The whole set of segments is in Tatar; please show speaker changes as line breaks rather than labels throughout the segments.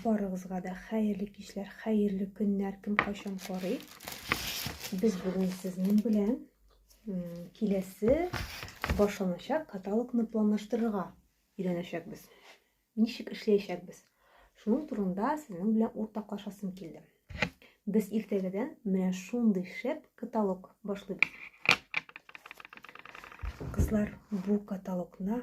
Барыгызга да хәерле кичләр, хәерле көннәр, кем кайчан карый. Без бүген сезнең белән киләсе башланачак каталогны планлаштырырга өйрәнәчәкбез. Ничек эшләячәкбез? Шуның турында сезнең белән уртаклашасым килде. Без иртәгәдән менә шундый шәп каталог башлыйбыз. Кызлар, бу каталогны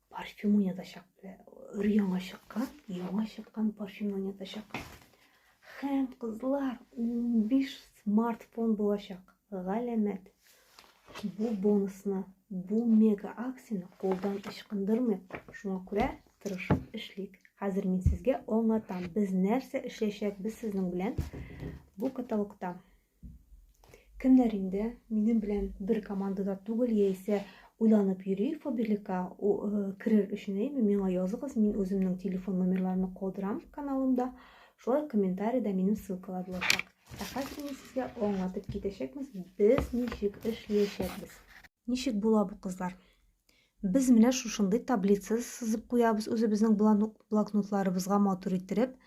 Парфюм уйнатачак. Өр яңа чыккан, яңа чыккан парфюм уйнатачак. Хәм, кызлар, 15 смартфон булачак. Галәмәт. Бу бонусны, бу мега акцияне кулдан ычкындырмыйк. Шуңа күрә тырышып эшлик. Хәзер мин сезгә аңлатам, без нәрсә эшләячәкбез сезнең белән бу каталогта. Кемнәр инде минем белән бер командада түгел, яисә уйланып йөри фобилика э, керер өчен әйме, миңа языгыз, мин үземнең телефон номерларны калдырам каналымда, шулай комментарийда минем ссылкалар булачак. Ә хәзер мин сезгә аңлатып китәчәкбез, без ничек эшләячәкбез. Ничек була бу кызлар? Без менә шушындый таблица сызып куябыз үзебезнең блокнотларыбызга матур иттереп.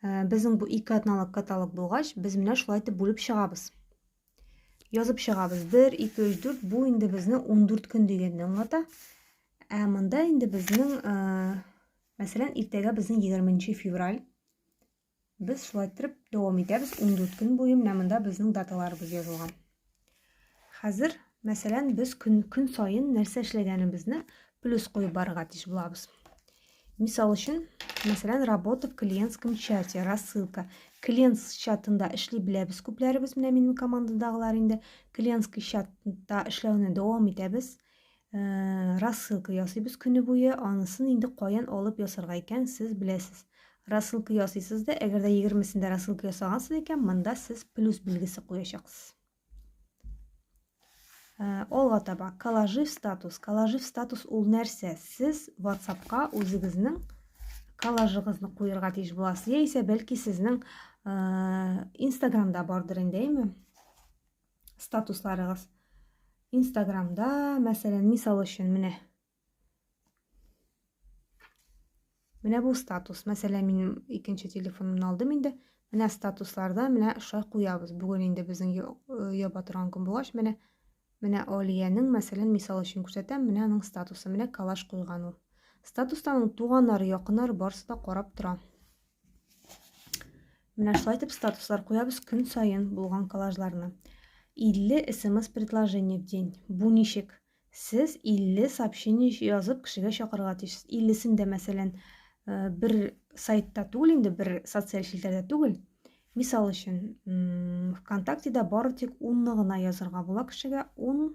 Э, безнең бу ике атналык каталог булгач, без менә шулай итеп бүлеп чыгабыз. Язып чыгабыз. 1, 2, 3, 4. Бу инде безнең 14 көн дигәнне аңлата. Ә монда инде безнең, э, мәсәлән, иртәгә безнең 20 февраль. Без шулай иттереп дәвам итәбез. 14 көн буе менә монда безнең даталарыбыз язылган. Хәзер, мәсәлән, без көн көн саен нәрсә эшләгәнебезне плюс куеп барырга тиеш булабыз. Мисал өчен, мәсәлән, работа в клиентском чате, рассылка. Клиент чатында эшли беләбез күпләребез, менә минем командадагылар инде клиентский чатта эшләүне дәвам итәбез. Ә, рассылка ясыйбыз көне буе, анысын инде каян алып ясарга икән, сез беләсез. Рассылка ясыйсыз да, әгәр дә егермесендә рассылка ясагансыз икән, монда сез плюс билгесе куячаксыз. Ә, алга таба, коллажи в статус. Коллажи в статус ул нәрсә? Сез WhatsApp-ка үзегезнең коллажыгызны куерга тиеш буласыз яисә бәлки сезнең инстаграмда бардыр инде әйме статусларыгыз инстаграмда мәсәлән мисал өчен менә менә бу статус мәсәлән мин икенче телефонымны алдым инде менә статусларда менә шулай куябыз бүген инде безнең яба торган көн булгач менә менә алиянең мәсәлән мисал өчен күрсәтәм менә аның статусы менә калаш куйган ул статустан туганнары якыннары барысы да карап тора Менә шулай итеп статуслар куябыз көн саен булган коллажларны. 50 смс предложение в день. Бу ничек? Сез 50 сообщение язып кешегә чакырырга тиешсез. 50-сен дә, мәсәлән, э, бер сайтта түгел инде, бер социаль челтәрдә түгел. Мисал өчен, ВКонтактеда бары тик 10-ны гына язырга була кешегә, 10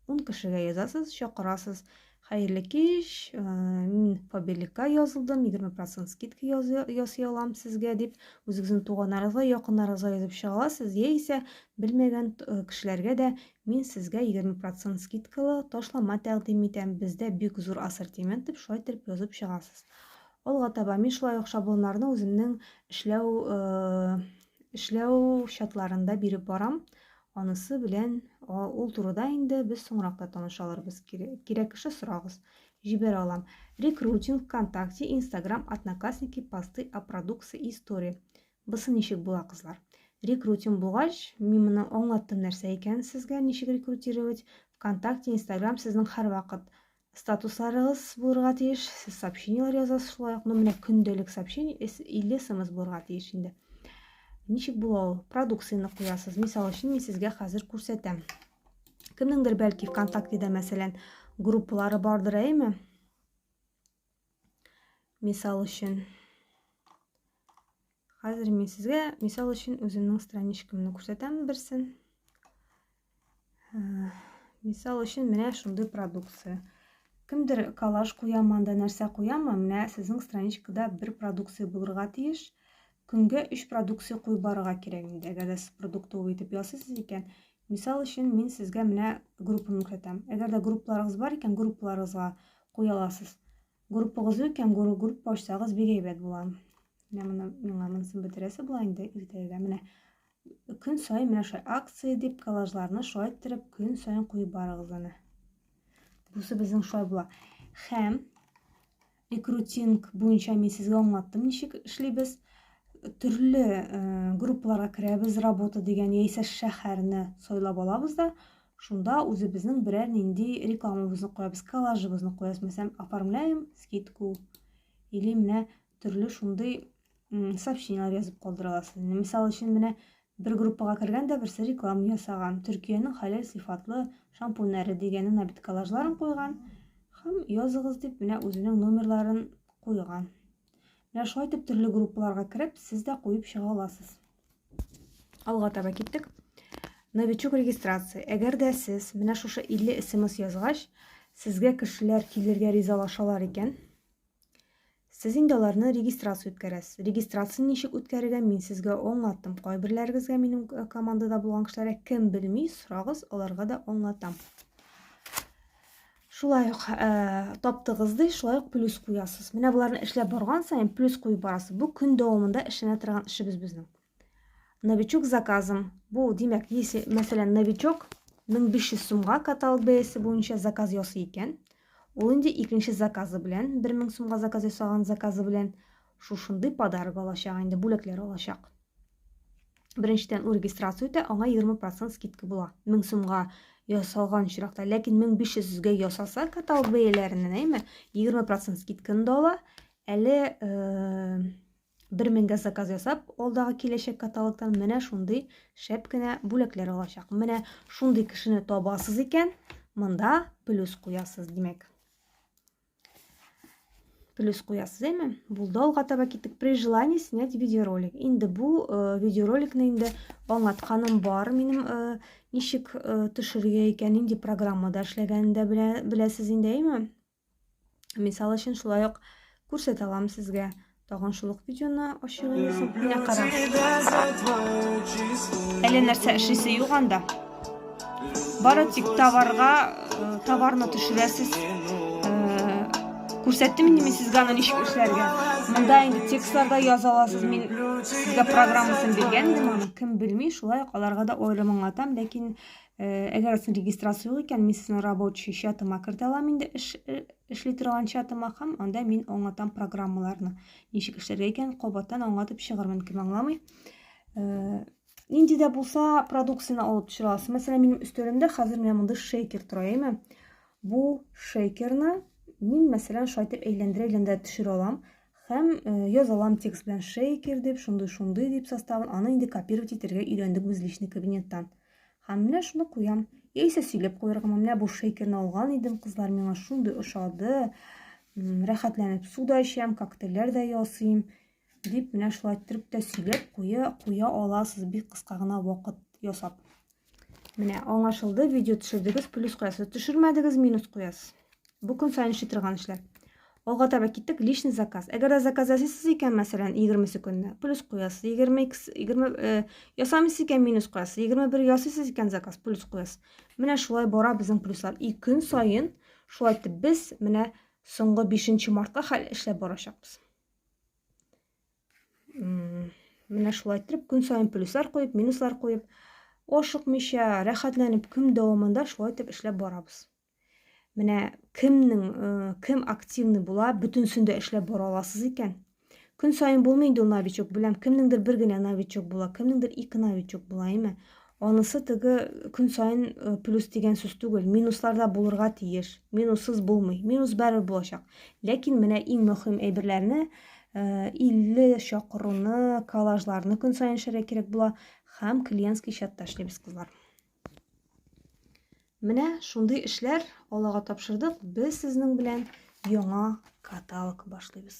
Ун кешегә язасыз, чакырасыз. Хәерле кич, э, мин Фабеликка язылдым, 20% скидка ясый алам сезгә дип, үзегезнең туганнарыгызга, якыннарыгызга язып чыга аласыз, яисә белмәгән э, кешеләргә дә мин сезгә 20% скидкалы ташлама тәкъдим итәм, бездә бик зур ассортимент дип шулай итеп язып чыгасыз. Алга таба мин шулай ук шаблоннарны үземнең эшләү э, эшләү чатларында биреп барам. Анысы белән ул турыда инде без соңрак та таныша алырбыз. Кирәк кеше сорагыз. Җибәрә алам. Рекрутинг, ВКонтакте, Инстаграм, Одноклассники, посты о продукции и истории. Бысы ничек була, кызлар? Рекрутинг булгач, мин моны аңлаттым нәрсә икәнен сезгә, ничек рекрутировать. ВКонтакте, Инстаграм сезнең һәрвакыт Статусларыгыз булырга тиеш, сез сообщениелар язасыз шулай ук, ну менә көндәлек сообщение 50 смс булырга тиеш инде. Ничек була ул? Продукцияне куясыз. Мисал өчен, мин сезгә хәзер күрсәтәм. Кемнеңдер бәлки ВКонтактеда мәсәлән группалары бардыр, әйме? Мисал өчен, хәзер мин сезгә мисал өчен үземнең страничкамны күрсәтәм берсен. Мисал өчен менә шундый продукция. Кемдер коллаж куямы, анда нәрсә куямы, менә сезнең страничкада бер продукция булырга тиеш. Көнгә өч продукция куеп барырга кирәк инде. Әгәр дә сез продуктовый итеп ясыйсыз икән, Мисал өчен, мин сезгә менә группаны күрсәтәм. Әгәр дә группаларыгыз бар икән, группаларыгызга куя аласыз. Группагыз юк икән, группа ачсагыз бик әйбәт була. Менә моны миңа монысын бетерәсе була инде иртәгә. Менә көн саен менә шулай акция дип коллажларны шулай иттереп көн саен куеп барыгыз аны. Бусы безнең шулай була. Һәм рекрутинг буенча мин сезгә аңлаттым ничек эшлибез төрле э, группаларга керәбез работа дигән яисә шәһәрне сайлап алабыз да шунда үзебезнең берәр нинди рекламабызны куябыз коллажыбызны куябыз мәсәлән оформляем скидку или менә төрле шундый сообщениелар язып калдыра аласыз инде мисал өчен менә бер группага кергән дә берсе реклама ясаган төркиянең хәләл сыйфатлы шампуньнәре дигән ана бит коллажларын куйган һәм языгыз дип менә үзенең номерларын куйган менә шулай итеп төрле группаларга кереп сез дә куеп чыга аласыз алга таба киттек новичок регистрация әгәр дә сез менә шушы 50 смс язгач сезгә кешеләр килергә ризалашалар икән Сез инде аларны регистрация үткәрәсез. Регистрацияне ничек үткәрергә мин сезгә аңлаттым. Кайберләрегезгә минем э, командада булган кешеләргә кем белми, сорагыз, аларга да аңлатам. Шулай ук ә, э, таптыгыз ди, шулай ук плюс куясыз. Менә боларны эшләп барган саен плюс куеп барасыз. Бу көн дәвамында эшләнә торган эшебез безнең. Новичок заказым. Бу, димәк, если, мәсәлән, новичок 1500 сумга каталог бәясе буенча заказ ясый икән, ул инде икенче заказы белән, 1000 сумга заказ ясаган заказы белән шушындый подарок алачак инде, бүләкләр алачак. Беренчедән, ул регистрация үтә, аңа 20% скидка була. 1000 сумга ясалган очракта, ләкин 1500 гә ясаса каталог бәяләреннән, әйме, 20% скидканы да ала, әле э, Бер меңгә заказ ясап, алдагы киләчәк каталогтан менә шундый шәп кенә бүләкләр алачак. Менә шундый кешене табасыз икән, монда плюс куясыз, димәк. Плюс куясыз, әйме? Булды алга таба киттек. При желании снять видеоролик. Инде бу э, видеороликны инде аңлатканым бар. Минем э, ничек э, төшерергә икән, нинди программада эшләгәнен дә беләсез инде, әйме? Мисал өчен шулай ук күрсәтә алам сезгә. Тагын шул ук видеоны ачып аласың. Менә карагыз. Әле нәрсә эшлисе юк анда. Бары тик товарга э, товарны төшерәсез. Э, күрсәттем инде мин сезгә аны ничек эшләргә. Монда инде текстларда яза аласыз. Мин сезгә программасын биргән идем аны. Кем белми, шулай ук аларга да аерым аңлатам, ләкин Э, әгәр син регистрация юк икән мин сезнең рабочий чатыма кертә алам инде эш э, эшли торган чатыма һәм анда мин аңлатам программаларны ничек эшләргә икән кабаттан аңлатып чыгармын кем аңламый э, нинди дә булса продукцияне алып төшерә аласыз мәсәлән минем өстәлемдә хәзер менә мондый шейкер тора әйме бу шейкерны мин мәсәлән шулай итеп әйләндерә әйләндерә төшерә алам һәм яза алам текст белән шейкер дип шундый шундый дип составын аны инде копировать итәргә өйрәндек без личный кабинеттан Һәм менә шуны куям. Яисә сөйләп куяргамы, менә бу шейкерны алган идем, кызлар миңа шундый ошады. Рәхәтләнеп су да эчәм, коктейльләр дә ясыйм. Дип, менә шулай иттереп тә сөйләп куя, куя аласыз бик кыска гына вакыт ясап. Менә аңлашылды, видео төшердегез, плюс куясыз, төшермәдегез, минус куясыз. Бу көн саен эшли торган эшләр. Алга таба киттек, личный заказ. Әгәр дә заказ ясыйсыз икән, мәсәлән, 20 көнне, плюс куясыз, 22, 20, э, ясамыйсыз икән, минус куясыз, 21 ясыйсыз икән, заказ, плюс куясыз. Менә шулай бара безнең плюслар. И көн саен шулай итеп без менә соңгы 5 мартка хәл эшләп барачакбыз. Менә шулай итеп көн саен плюслар куеп, минуслар куеп, ашыкмыйча, рәхәтләнеп көн дәвамында шулай итеп эшләп барабыз. Менә кемнең э, кем активный була, бөтенсен дә эшләп бара аласыз икән. Көн саен булмый инде новичок, беләм, кемнеңдер бер генә новичок була, кемнеңдер ике новичок була, әйме. Анысы теге көн саен э, плюс дигән сүз түгел, минусларда булырга тиеш. Минуссыз булмый. Минус бәрер булачак. Ләкин менә иң мөһим әйберләрне 50 э, чакыруны, коллажларны көн саен эшләргә кирәк була һәм клиентский чатта эшлибез кызлар. Менә шундый эшләр Аллага тапшырдык. Без сезнең белән яңа каталог башлыйбыз.